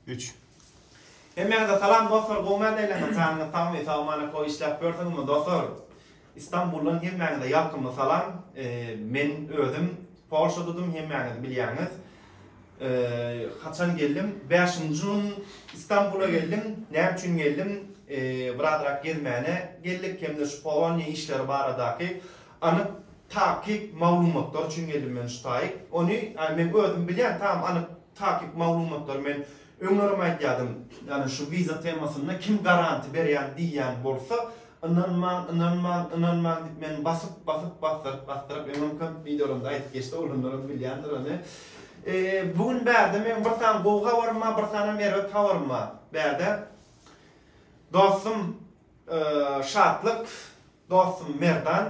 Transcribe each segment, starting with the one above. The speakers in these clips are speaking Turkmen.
Üç. Hemmäňize salam dostlar gowymy heleýleňiz janyňyz sagmy sag amana koý işläp ýörsiňizmi dostlar Istanbuldan hemmäňize ýalkymly salam men özüm Polşadadym hemmäňiz bilýäňiz haçan geldim bäşinji gün Istanbula geldim näme üçin geldim birazrak gezmäne geldik hemde şu poloniýa işleri baradaky Anyk takyk maglumatlar üçin geldim men ştaýk. Ony ýa men özüm bilýän tam anyk takyk maglumatlary men öňlerem aýdýadym. Ýani şu wiza temasynda kim garanti berýän diýýän bolsa ynanmaň ynanmaň ynanmaň diýip men basyp basyp basdyryp basdyryp öňem köp wideolarymda aýdyp geçdi olanlaram bilýändir ony. Bu gün bärde meň bir sany gowy habarym bar bir sanam erbet habarym bar bärde. Dostum. Şatlyk dostum Merdan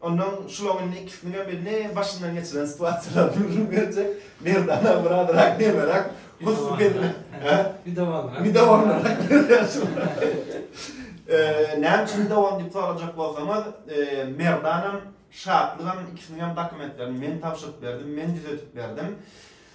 ondan şulaň indi ikisiniňem birini başyndan geçiren situasiýalaryny gürrüň berjek. Merdan aga biraz rak nemerak gussy geldi. Hä? Bir dowamrak. Bir dowamrak. Eee, näme üçin bir dowam diýip sorajak bolsaňyz, eee, Merdanam, Şatlygam ikisiniňem dokumentlerini men tabşyryp berdim, men düzetip berdim.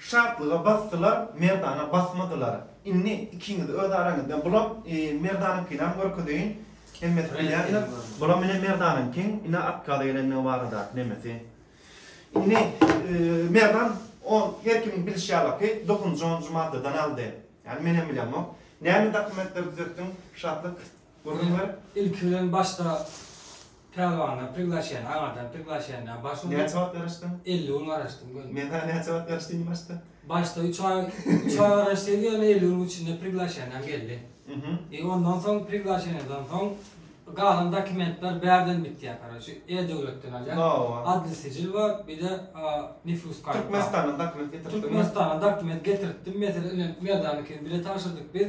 Şatlyga basdylar, Merdana basmadylar. Indi ikiňiz öz araňyzda bulam Merdanyňkyňam görkezeýin. Hemmesi bilýändir. Bulam ine Merdanyňkyň ine otkazy gelendigi baradaky nemesi. Indi Merdan on her kimiň bilişi ýalaky dokuzynjy onunjy maddadan aldy. Ýani menem bilemok. Näme dokumentleri düzetdiň Şatlyk? Gurrunlar ilki bilen başda Pälwandan priglaşeniýa, aňardan priglaşeniýa baş urdy. Näçe wagt garaşdyň? Elli gün garaşdym göni. Men saňa näçe wagt garaşdy diýdim başda? Başda üç aý, üç aý garaşdyýdy, ýöne elli günüň içinde priglaşeniýam geldi. I ondan soň priglaşeniýadan soň galan dokumentler bärden bitýär, karoçi, E-döwletden alýar. Hawa. Adli sijil bar, bir-de nifus karty bar. Türkmenistandan dokument getirtdiňmi? Türkmenistandan dokument getirtdim, mesele ilen Merdanykini bile tabşyrdyk biz.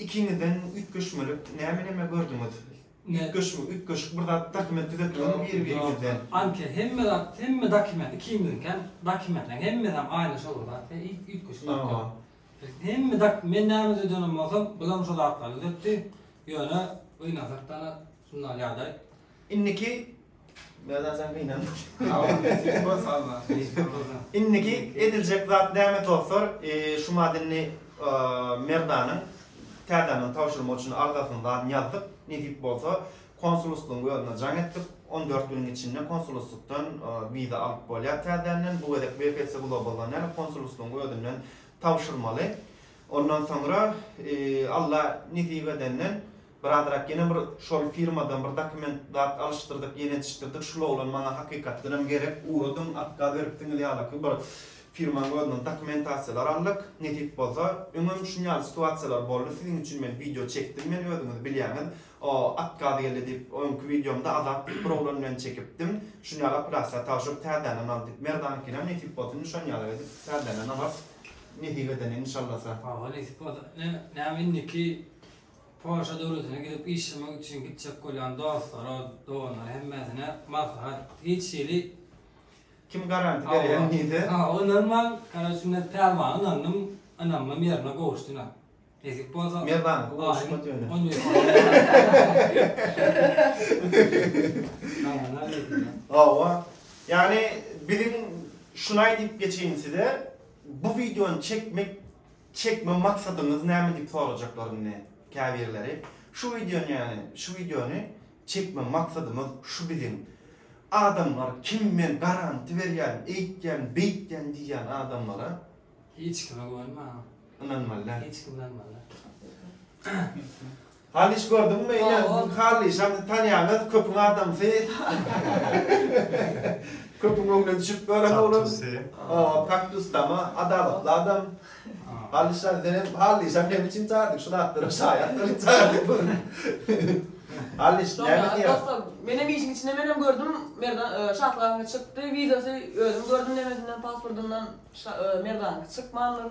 Ikiňizden üýtgeşmelik näme näme gördüňiz? Üýtgeşme üýtgeşik bir zat dokument düzetdiňizmi biri biriňizden? Anke hemme zat hemme dokument ikimiziňkem dokumentleň hemmesem aýna şol bir zat we hiç üýtgeşik zat ýok. Biz hemme dok men näme düzeden bolsam bulam şo zatlary düzetdi ýöne gynansakdana şunda ýagdaý. Indiki Indiki ediljek zat näme dostlar, şu madenni Merdanyň täzänden tabşyrmak üçin arzasyny zan ýazdyk, nesip bolsa konsuluslygyň özüne jaň etdik, on dört günüň içinde konsuluslykdan wiza alyp bolýar täzänden, bu gezek WPC Global-dan däl, konsuluslygyň özünden tabşyrmaly, ondan soňra Alla nesip edenden, Biradyrak ýene bir şol firmadan bir dokument zat alyşdyrdyk ýenetişdirdik şul oglan maňa hakykatdanam gerek ugradyň atkaz berip siňňil ýalaky bir firmaň özünden dokumentasiýalar aldyk nesip bolsa öňem şun ýaly situasiýalar boldy siziň üçin men wideo çekdim men özüňiz bilýäňiz o atkaz geldi diýip öňki wideomda azat diýip bir oglan bilen çekipdim şun ýaly operasiýa tabşyryp täzänden al diýip merdanykinam nesip bolsa indi şon ýaly edip täzänden alarys nesip edeni inşallasa. Hawa nesip bolsa näme indiki Polşa döwletine gidip işlemek üçin gitjek bolýan dostlara, doganlara hemmesine maslahat, hiç hili Kim garanti berýän diýse. Hawa ynanmaň, karoçe men Pälwana ynandym, ynamym ýerine gowuşdy ynha. Nesip bolsa. Merwanyňky gowuşmady ýöne. On ýüz Hawa, ýagny biziň şunaý diýip geçeýin size, bu wideony çekmek Çekme maksadyňyz näme diýip sorajaklar indi käbirleri. Şu wideony ýagny şu wideony çekme maksadymyz şu biziň. Adamlar kim men garanti berýän, eýtýän, beýtýän diýýän adamlara. Hiç kime güwenme. Ynanmaly däl. Hiç kime ynanmaly däl. Halyş gördüňmi ine bu Halyşam tanýaňyz köpüň adamsy köpüň öňüne düşüp ýören oglan kaktusy kaktusdama adalatly adam Halyşjan sen hem Halyşam hem üçin çagyrdyk şu zatlara şaýat bolup çagyrdyk ony Halyş näme diýýäň Dostlar men hem işiň içinde men hem gördüm Merdan Şatlyganyňky çykdy wideosy özüm gördüm nemesinden pasportyndan Merdanyňky çykmandyr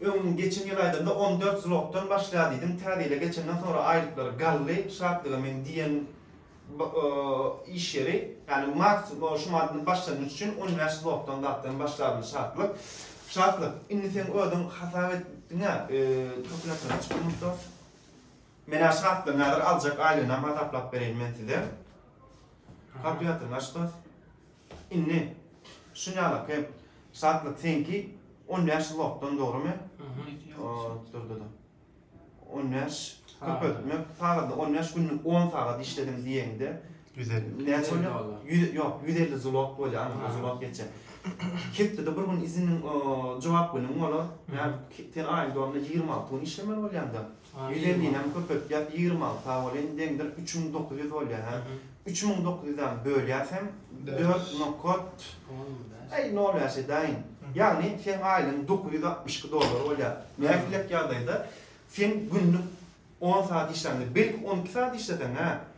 Öň geçen ýyl aýdanda on dört zlotdan başlýar diýdiň, täze ýyla geçenden soňra aýlyklary galdy, Şatlyga meň diýen iş ýeri, ýagny mart şu maddanyň başlangyjy üçin on bäş zlotdan zatdan başlardy Şatlyk. Şatlyk, indi seň özüň hasap etdiň-ä, türkmenlerden çykmyşda. Men-ä Şatlygyň häzir aljak aýlygynam hasaplap bereýin men size. Kalkulator aç dos. Indi şunýalaky şatlyk seňki on bäş ýyl wagtdan dogrymy? Durdada. On bäş köpeltmek sagada on bäş günlük on sagat işledim diýeňde. Ýüz elli. Näçe bolýar? Ýok, ýüz elli zlot bolýar, aňryk zlot geçýär. Hepdede bir gün iziniň jogap günüň bolar. Sen aýyň dowamynda ýigrimi alty gün işlemeli bolýanda. Bize ninem köpeltýas ýigrimi alta welin deňdir üç müň dokuz ýüz bolýa hä üç müň dokuz ýüzäm bölýäsem dört nokat bäş nol bäş edäýin ýagny seň aýlygyň dokuz ýüz altmyş iki dollar bolýa nähilek ýagdaýda sen günlük on saat işläňde belki on iki saat işleseň hä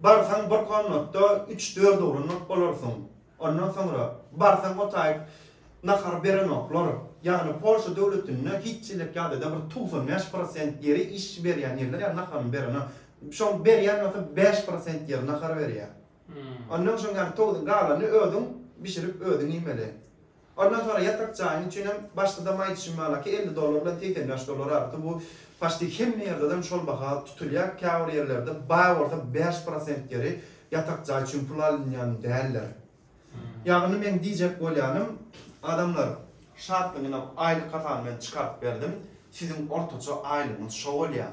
Barsaň bir komnatda üç-dört urunmak bolarsyň. Ondan soňra barsaň otaýyp nahar berenoklar. Ýagny Polşa döwletinde hiç çilek ýagdaýda bir togsan bäş prosent ýeri iş berýän ýerler ýa naharyny berenok. Şoň berýän bolsa bäş prosent ýeri nahar berýär. Ondan soň ýagny togsan galany özüň bişirip özüň iýmeli. Ondan soňra ýatak jaýyň üçinem başda-da maýyp şimalaki elli dollar bilen segsen bäş dollar artdy. Bu paçti hemme ýerdedem şol baha tutulýar. Käbir ýerlerde baý bolsa bäş prosent ýeri ýatak jaý üçin pul alynýan däldir. Ýagny meň diýjek bolýanym, adamlar, şatlygyny aýlyk hasabyndan çykaryp berdim, siziň ortaça aýlygyňyz şo bolýar.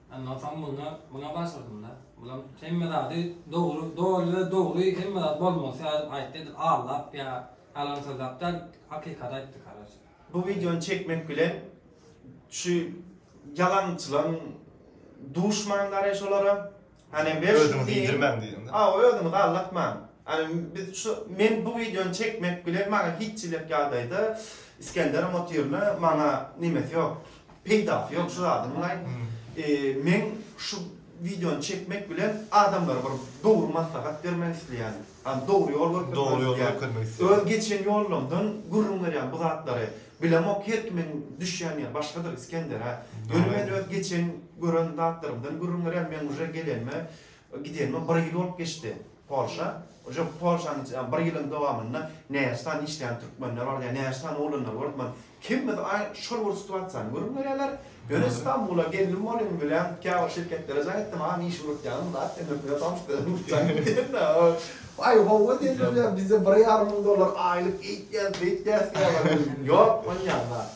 Ondan soň munda muna başladymda. Bulam hemme zady dogry, doly we dogry hemme zat bolmalysy ýaly aýtdy edil aldap ýa ýalan sözläp däl hakykaty aýtdy karoçe. Bu wideony çekmek bilen şu ýalançylaň duşman garay şolara. Hany ber şu Özüňizi iýdirmäň diýdiňda. Hawa özüňizi aldatmaň. Hany biz şu men bu wideony çekmek bilen maňa hiç hili ýagdaýda Isgenderem otyrny maňa nimesi ýok. Peýdasy ýok şu zadyň wlaý. Men şu wideony çekmek bilen adamlara bir dogry maslahat bermek isleýän. Ýani dogry ýol görkezmek isleýän. Öz geçen ýolumdan gürrüň berýän bu zatlary. Bilemok her kimiň düşýän ýeri başgadyr Isgender a. Ýöne men öz geçen gören zatlarymdan gürrüň berýän. Men uje gelenime gidenime bir ýyl bolup geçdi. Polşa, Ojok Polşanyň bir ýylyň dowamynda näçe sany işleýän türkmenler bar, ýa näçe sany oglanlar bar diýip, kimimiz aý şol bir situasiýany görüp ýörýärler. Ýöne Stambula geldim bolyň bilen käbir şirketlere jaň etdim, aý iş ugradypýaňyzmy zat diýip, mümkin bolsa alşyp gidip ugradypjaň diýdim-de, aý hawa diýdiler, ýa bizde bir ýarym müň dollar aýlyk eýtýäs, beýtýäs diýýärler, ýok bolýan zat.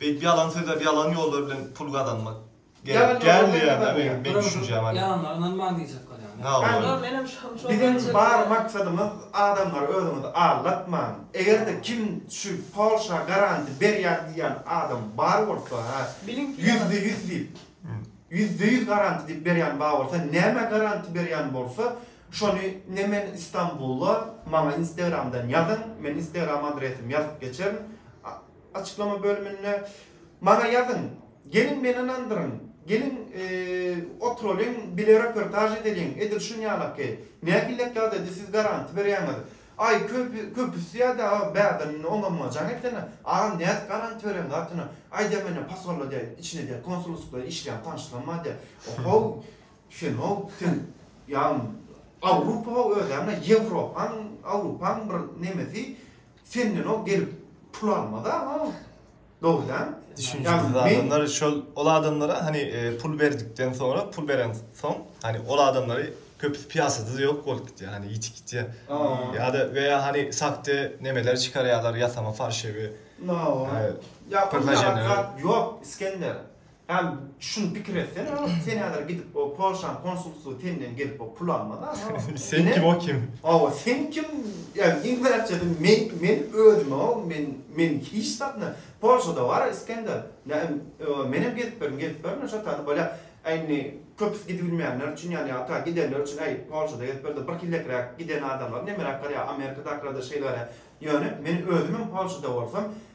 Beýdip ýalan sözläp ýalan ýollar bilen pul gazanmak gerek däl diýýän da meň meň düşünjäm aleý. Ýalanlara ynanmaň diýjek bolýan da. Hawa. Ýok menem şam şol Biziň düşünjede bar däl. maksadymyz adamlary özüňizi aldatmaň. Egerde kim şu polşa garanti berýän diýýän adam bar bolsa hä Biliň ki ýüzde ýalan. ýüz diýip ýüzde ýüz garanti diýip berýän bar bolsa nämä garanti berýän bolsa şony ne men istanbulda maňa instagramdan ýazyň men instagram adresim ýazyp geçerin Açyklama bölüminde Maňa ýazyň, geliň meni ynandyryň, geliň oturylyň bile reportaž edeliň, edil şunýalaky, nähillek ýagdaýda siz garanti berýäňiz? Aý, köpüsi ýa-da bäbini oňa-muňa jaň etsene, agam nädip garanti berýäň zatyna, aýdýa menä posolda diýä, içinde diýä konsulsklykda işleýän tanyşlarym bar diýä. Ohow, sen-ow, sen ýa Awrupa-ow özäňde, Ýewropaň, Awrupaň bir nemesi, Senden ol gelip pul almaz aga ol. Dogry däl? Düşünjisiz adamlar şol ol adamlara hani pul berdikden soňra pul beren soň hani ol adamlary köpüsi piýasada ýok bolup gitýär hani ýitip gitýär. Ýa-da we ýa hani sakde nemeler çykarýarlar ýasama farşewi. Ýa pul ýaly zat ýok Isgender. Hany şuny pikir etsene o sen häzir gidip o polşan konsulsygy senden gelip o pul almaz a o sen kim o kim owa sen kim ýagny iň bärçesi men men özüme o men men hiç zatna polşada bar isgender menem gezip berin gezip berin şo taýda bolýa a indi köpüsi gidibilmeýänler üçin ýagny ata gidenler üçin äý polşada gezip berdi bir hillekräk giden adamlar nemeräk garýa amerikadakylarda şeýle garýa ýöne men özümem polşada bolsam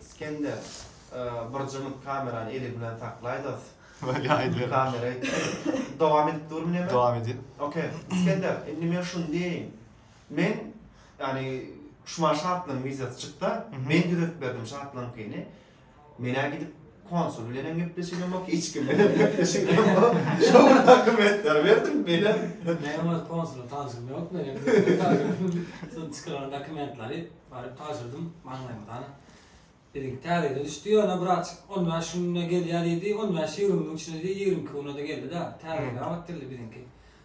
Iskender bir jyňyp kamerany eli bilen saklaýdas. Weli aýdyberiň. Kamera aýtdy. Dowam edip durmy neme? Dowam edin. Ok. Iskender, indi men şuny diýeýin. Men, ýagny, şumaň şatlygyň wideosy çykda, men düzedip berdim şatlygyňkyny. Menä gidip konsul bilenem gepleşigim yok, hiç kim bilen gepleşigim yok. Şu bir dokumentleri berdim bile. Menem öz konsul tanşym yok menem. Son çıkaran dokumentleri baryp taşırdım maňlaýymdan. Dedik täzeden düşdi ýöne brat 15 günde gelýär diýdi. 15-20 gün içinde diýdi, 22 güne de geldi-de. Täzeden gabat geldi biziňki.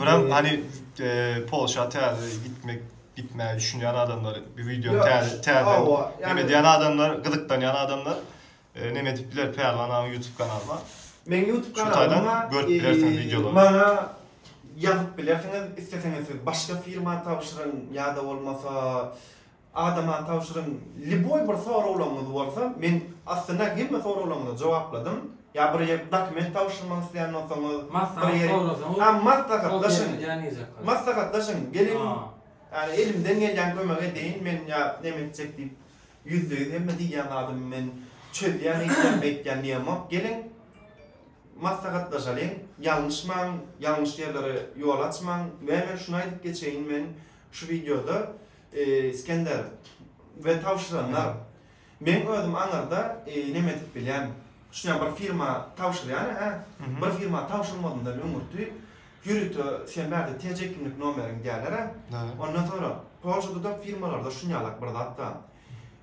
Biram hani Polşa täze gitmek gitmäge düşünýän adamlar bu wideo täze täze näme diýen adamlar gyzyklanýan adamlar näme edip biler Pälwan agyň YouTube kanaly bar. Meň YouTube kanalyma görüp bilersiňiz wideolary. Maňa ýazyp bilersiňiz isleseňiz siz başga firma tabşyryň ýa-da bolmasa Adama tabşyryň liboý bir soraglaňyz bolsa men aslynda hemme soraglaňyza jowapladym ýa bir ýer dokument tabşyrmak isleýän bolsaňyz bir ýeri ha maslahatlaşyň maslahatlaşyň geliň ýani elimden gelýän kömegi edeýin men ýa neme etjek diýip ýüzde ýüz hemme diýýän zadymy men çözýän eýtýän beýtýän diýemok geliň maslahatlaşalyň ýalňyşmaň ýalňyş ýerlere ýol açmaň we men şuny aýdyp geçeýin men şu wideoda Iskender, we tabşyranlar. Meň özüm aňyrda neme edip bilýän. Şunyam bir firma tabşyrýan hä. Bir firma tabşyrmazyndan öňürti ýörite sen bärde TC kimlik nomeriň diýerler hä. Ondan soňra Polşada da firmalarda şunýalak bir zat bar.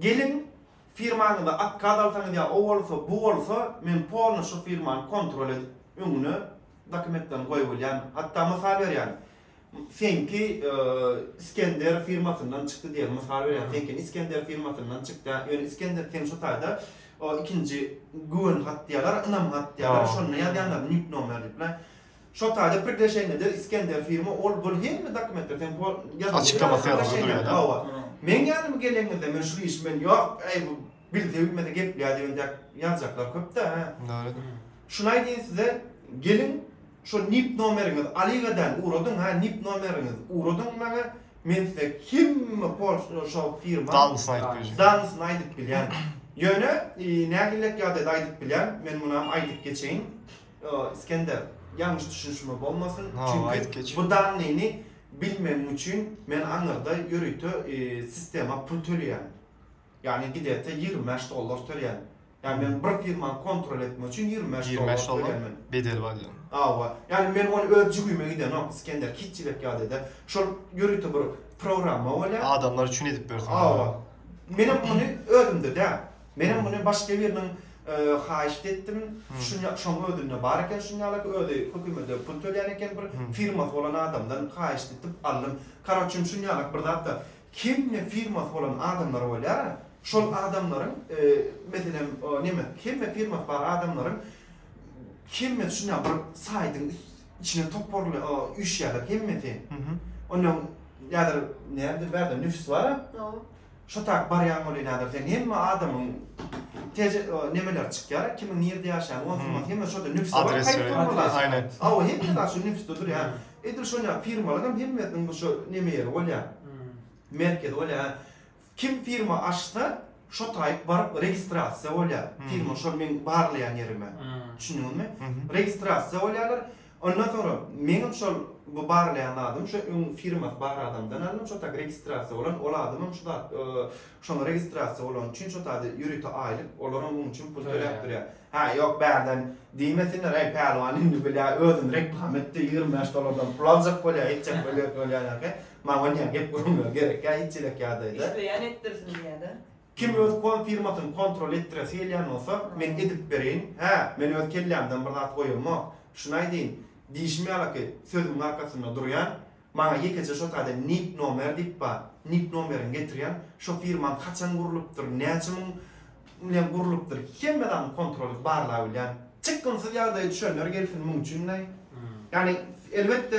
Geliň, firmaňyza otkaz alsaňyz ýa o bolsa, bu bolsa, men polny şu firmany kontrol edip, öňüne dokumentlerini goýup alýan. Hatda mysal berýän, seňki Iskender firmasyndan çykdy diýeli, mysal berýän, seňkini Iskender firmasyndan çykdy, ýöne Iskender seň şu taýda o ikinji güwen hat diýýärler, ynam hat diýýärler, şonda ýazýanlar, nik nomer diýip, Şo taýda priglaşenýede Iskender firma ol bul hemme dokumentler seň pol ýazylýar. Açyklamasy ýazyldy duýýa da. Hawa. Meň ýanyma gelenizde men şul işi men ýok äý bu bilse bilmese geplýär diýen dek ýazjaklar köp da hä. Dogrydyr. Şuny aýdýyn size geliň şo nip nomeriňiz Aligadan ugradyň hä nip nomeriňiz ugradyň maňa men size hemme pol şo firma Danlysyny aýdyp bilýän. Danlysyny aýdyp bilýän. Ýöne nähillek ýagdaýda aýdyp bilýän men munam aýdyp geçeýin. Iskender, ýalňyş düşünişme bolmasyn, çünki bu danlyny bilmegim üçin men aňyrda ýörite sistema pul töleýän. Ýagny gidete ýigrimi bäş dollar töleýän. Ýagny men bir firmany kontrol etmek üçin ýigrimi bäş dollar töleýän. Bedeli bar diýen. Hawa. Ýagny men ony öz jübime gidenok, Iskender, hiçjilek ýagdaýda. Şol ýörite bir programma bolýar. Adamlar üçin edip bersin. Hawa. Menem ony özümde däl. Menem muny başga biriniň haýyşt etdim. Şuny şoň özünde bar eken şuny ýaly özi hökümede pul tölýän eken bir firmasy bolan adamdan haýyşt etip aldym. Karoçim şuny ýaly bir zatda hemme firmasy bolan adamlar bolýara şol adamlaryň meselem neme hemme firmasy bar adamlaryň hemmesi şuny ýaly bir saýdyň içine toparly üýşýärler hemmesi. Onda näder näme bärde nüfs bara. Şo tak barýan bolýa näder sen hemme adamyň teje nemeler çykýar kimiň nirde ýaşaýany ony sungat hemme şoda nüfs bar kaýt bolmaly aýne hawa hemme zat şu nüfs dudur ýa edil şon ýaly firmalar hem hemmesiniň bir şo neme ýeri bolýa merkezi bolýa kim firma açsa şo taýyp baryp registrasiýa bolýa firma şol meň barlaýan ýerime düşündiňizmi registrasiýa bolýalar Ondan soňra meňem şol bu barlaýan zadym şo öň firmasy bar adamdan aldym, şo taýda registrasiýa bolan, ol adamam şu zat şoňa registrasiýa bolany üçin şo taýda ýörite aýlyk, olaram muň üçin pul töläp durýar. Hä, ýok bärden diýmesinler, Äý, Pälwan indi bilä özüni reklama etdi, ýigrimi bäş dollardan pul aljak bolýa, etjek bolýa, bolýa, nähä, maňa näme gep gürrüňler gerekkä, hiç elek ýagdaýda. Isleýän etdirsin diýýä-dä. Kim öz kom firmasyny kontrol etdiresi gelýän bolsa, men edip bereýin, hä, men öz kellämden bir zat goýamok. Şuny aýdaýyn, diýşim ýalyky, sözümiň arkasynda durýan, maňa ýekeje şo taýda nik nomer diýip bar, nik nomerini getirýän, şo firmaň haçan gurlupdyr, näçe müň bilen gurlupdyr, hemme zadyny kontrol edip barlap bilýän. Çykgynsyz ýagdaýa düşenler gelsin muň üçin-de. Ýagny, elbetde,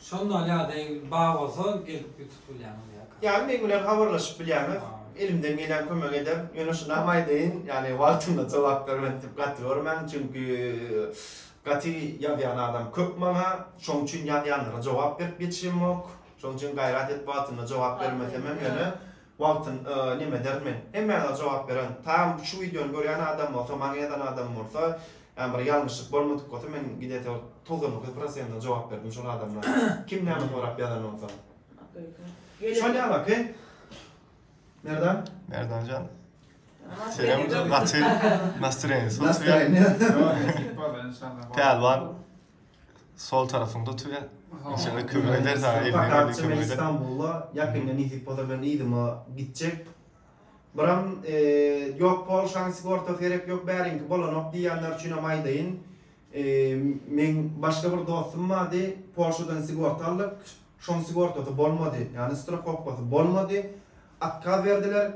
Şondan ýa-da egiz bar bolsa gelip ýutup bilýäňiz ýa-da. Ýaly men bilen habarlaşyp bilýäňiz. Elimden gelen kömegi ederin. Ýöne şunam aýdaýyn, ýagny wagtynda jogap bermedik diýip gaty görmäň, çünki gaty ýazýan adam köp maňa, şoň üçin ýazýanlara jogap berip ýetişemok. Şoň üçin gaýrat edip wagtynda jogap bermesemem ýöne Wagtyn yy neme derin men. Hemmäňize jogap beren tam şu wideony görýän adam bolsa maňa ýazan adam bolsa ýa bir ýalňyşlyk bolmadyk bolsa men gidesi togsan dokuz prosentine jogap berdim şol adamlara kim näme sorap ýazan bolsa şol ýaly okey Merdan Merdanjan Senem gaty nastroýeniýasy Pälwan. Sol tarafyňda otur ya. Şöyle kömek eder sana. Elini Fakat elini şimdi kömek eder. İstanbul'da yakında nesip olsa ben iýdime gitjek. Biram eee, yok Polşanyň sigortasy gerek yok bäriňki bolanok diýýänler üçin hem aýdaýyn. Eee, meň başga bir dostum bardy, Polşadan sigorta aldyk, şoň sigortasy bolmady, ýagny strahowkasy bolmady, otkaz berdiler.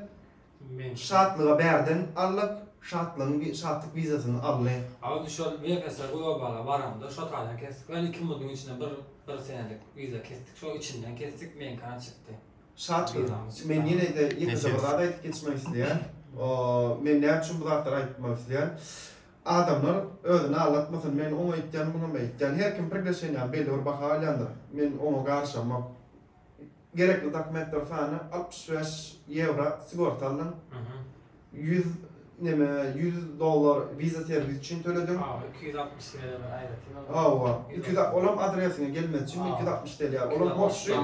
Men şatlyga bärden alyp, şatlygyň şatlyk wizasyny aldy. Agty şol Wefese globala baramda şo taýdan kesdik. Ýöne iki munuň içinde bir bir senelik wiza kesdik. Şo içinden kesdik, meňkana çykdy. Şat gyz. Men ýene-de ýekeje bir zat aýdyp geçmek isleýän. Men näme üçin bu zatlary aýtmak isleýän? Adamlar özüni aldatmasyn. Men oňa aýtýan, muňa aýtýan. Her kim pikirleşen ýaly belli bir baha alýandyr. Men oňa garşamok. gerekli dokumentler sany altmyş bäş ýewro sigorta aldyň ýüz neme ýüz dollar wiza serwis üçin töledim Hawa iki ýüz altmyş ýewro bir aýratyn aldyň Hawa iki ýüz al olam adresiňe gelmesi üçin iki ýüz altmyş ýewro ýa olam borçly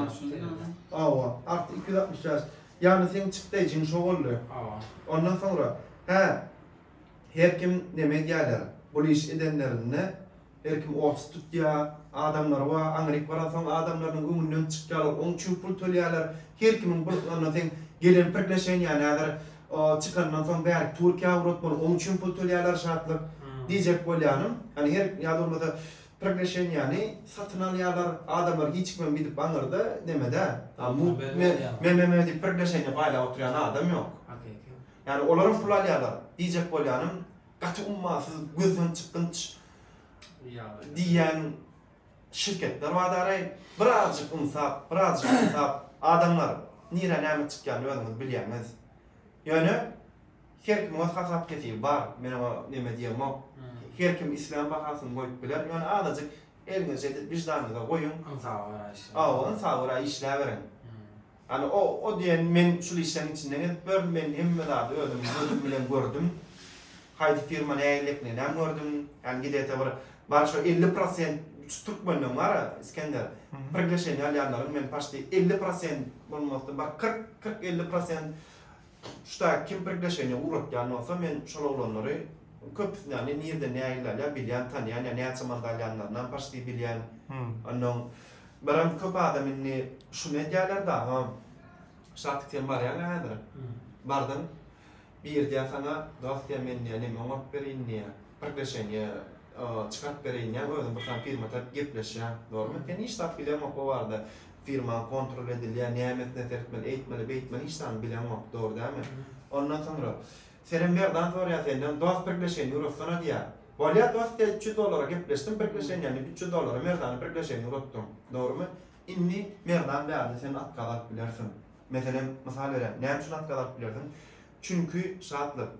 Hawa artyk iki ýüz altmyş bäş ýagny seň çykdaýjyň şo boldy Hawa ondan soňra hä her kim neme edýärler bul iş edenlerinde Her kim orta tutýar, adamlary bar, aňryk baransoň adamlarynyň öňünden çykýarlar, oň çüň pul tölýärler, her kimiň bir ondan seň gelen priglaşeniýäni häzir çykandan soň bärik Türkiýä ugratmaly, oň çüň pul tölýärler Şatlyk. Diýjek bolýanym, ýani her ýa-da bolmasa priglaşeniýäni satyn alýarlar, adamlar hiç kim hem gidip aňyrda neme däl. Meme diýip priglaşeniýa paýlap oturýan adam ýok. Ýani olar hem pul alýarlar. Diýjek bolýanym, gaty ummasyz, gözden çykgynç diýýän şirketler bar daraý. Birazjyk ynsap, birazjyk ynsap, adamlar, nirä näme çykýanyny özüňiz bilýäňiz. Ýöne her kimiň öz hasap-kesibi bar, men oňa neme diýemok. Her kim islän bahasyny goýup biler, ýöne azajyk eliňize ýetip, wiždanyňyza goýuň. Ynsaba görä işläň. Hawa, ynsaba görä işläberiň. Hany o o diýen men şul işleň içinde gezip ýörün men hemme zady özüm gözüm bilen gördüm haýsy firma nähili eklenýän gördüm ýani gidete bir bar şo elli prosent şu türkmenden bar a Iskender priglesheniýa alýanlaryň men paşti elli prosent bolmasdy bir kyrk kyrk elli prosent Şu taýy kim priglaşeniýa ugratýan bolsa men şol oglanlary köpüsini ýagny nirden nägilde alýan bilýän tanýan ýa näçe manda alýanlarynam paşti bilýän onnoň baran köp adam indi şuny edýäler dagy şatyk sen barýaň häzir bardyň bir diýýä saňa dos diýýä men diýýä neme oňaryp bereýin diýýä priglaşeniýa Çykaryp bereýin ýa özüm bir sany firma taýyp gepleşýän zormy sen hiç zat bileňok bu barada firmaň kontrol edilýä nämesine seretmeli eýtmeli beýtmeli hiç zany bileňok dogry dälmi ondan soňra senem merdan zorýa senden dos birgleşeýin uratsana diýä bolýa dos diýä üç ýüz dollara gepleşdim birgleşeýin diýä men üç ýüz dollara merdany birgleşeýin uratdym dogrymy indi merdan bärde sen atkaz alyp bilersiň meselem mysal berýän näme üçin atkaz alyp bilersiň çünki şatlyk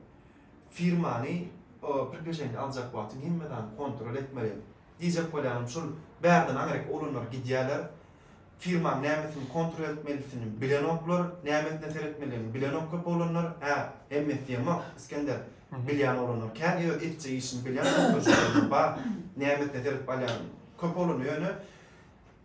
Firmany pripejeniýa aljak wagtyň hemme zady kontrol etmeli. Diýjek bolýanym şul, bärden aňryk oglanlar gidýärler. Firmaň nämesini kontrol etmelisini bilenoklar, nämesine seretmelidigini bilenok köp oglanlar. Hä, hemmesi diýemok, Isgender. Bilýän oglanlar kän, öz etjek işini bilýän, bar. Nämesine seredip alýan köp oglanlar ýöne.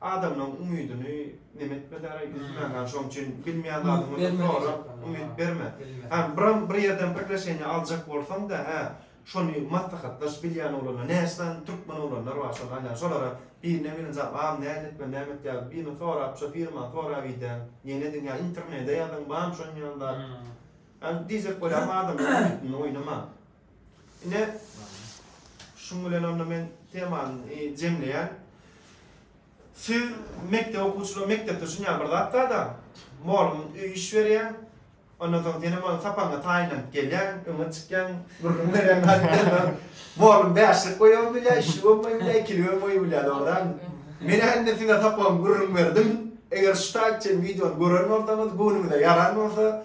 Adamlaň umydyny neme etmedara üzme ha şoň üçin bilmeýän zadyňy sorap umyt berme. Ha biram bir ýerden priglaşeniýa aljak bolsaňda hä şony maslahatlaş bilýän oglanlar näçe sany türkmen oglanlar bar şony alýan şolara birine birine jany bam näme etmeli näme et ýa birine sorap şo firmany sorap idä ýene ediň ýa internede ýazyň bam şon ýaly zat. Diýjek bolýan adamlaň umytyny oýnama. Ine, şuň bilen onda men temany jemleýän. Siz mekdep okuwçylar mekdepde düşünýän bir zat bar-da, mugallym öý iş berýär, ondan soň senem onuň sapagyna taýynlanyp gelýäň, öňe çykýaň, gürrüň berýäň, hat berýäň. Mugallym bäşlik goýabam bilýär, üçlük hem goýup bilýär, ikilik hem goýup bilýär, dogrydanmy? Men indi size sapagymy gürrüň berdim. Eger şu taýy çenli wideony gören bolsaňyz, göwnüňize ýaran bolsa,